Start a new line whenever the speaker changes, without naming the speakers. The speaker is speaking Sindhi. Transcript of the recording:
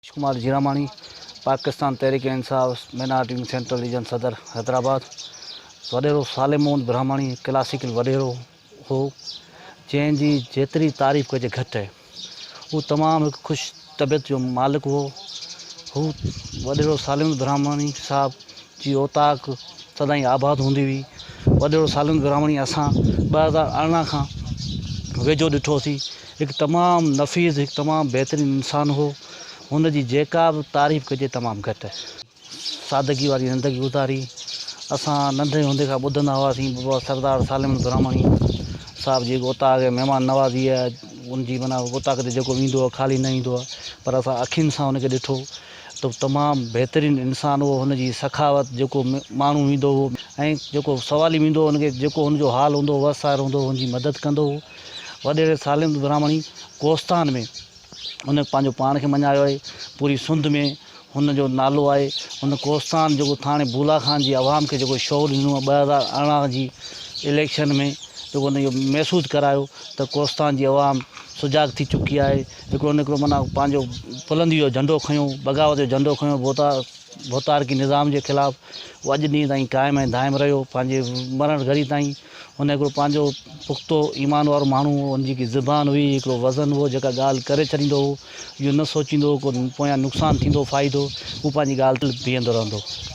ريش ڪمار جيراماڻي، پاڪستان تحريڪ انصاف مائنارٽين سينٽرل ريجن صدر حيدرآباد، وڏيرو صالح محمد برهماڻي ڪلاسيڪل وڏيرو هو، جنهن جي جيتري تعريف ڪجي گهٽ آهي. هو تمام هڪ خوش طبيعت جو مالڪ هو. هو، وڏيرو صالح محمد برهماڻي صاحب، جي اوطاق سدائين آباد هوندي هئي. وڏيرو صالح محمد برهماڻي اسان ٻه هزار ارڙهن کان ويجهو ڏٺوسين. هڪ تمام نفيس هڪ تمام بهترين انسان هو هن جي جيڪا به تعريف ڪجي تمام گهٽ سادگي واري زندگي گذاري اسان ننڍي هوندي کان ٻڌندا هئاسين بابا سردار سالمن براهمڻي صاحب جي اوطاق ۽ مهمان نوازي ان جي معنی اوطاق تي جيڪو ويندو هو خالي نه ايندو هو پر اسان اکين سان ان کي ڏٺو ته تمام بهترين انسان هو هن جي سخاوت جيڪو ماڻهو ويندو هو ۽ جيڪو سوالي ويندو هو ان کي جيڪو هن جو حال هوندو هو وس سار هوندو هو هن جي مدد ڪندو هو وڏيري ساليند براهمڻي ڪوستان ۾ هن پنهنجو پاڻ کي مڃايو آهي. پوري سنڌ ۾ هن جو نالو آهي. هن ڪوستان جيڪو ٿاڻي بولا خان جي عوام کي جيڪو شعور ڏنو ۽ ٻه هزار ارڙهن جي اليڪشن ۾ جيڪو هن اهو محسوس ڪرايو ته ڪوستان جي عوام سجاڳ ٿي چڪي آهي. هڪڙو نه هڪڙو معنيٰ پنهنجو بلندي جو جهنڊو کنيو، بغاوت جو جهنڊو کنيو ڀوتا ڀوتارڪي نظام جي خلاف. اهو اڄ ڏينهن تائين قائم ۽ دائم رهيو پنهنجي مرڻ گهڙي تائين. هن هڪڙو پنهنجو پختو ايمان وارو ماڻهو هو، هن جي هڪ زبان هئي، هڪڙو وزن هو، جيڪا ڳالهه ڪري ڇڏيندو هو، اهو نه سوچيندو هو ڪو پويان نقصان ٿيندو فائدو، هو پنهنجي ڳالهه تي بيهندو رهندو هو.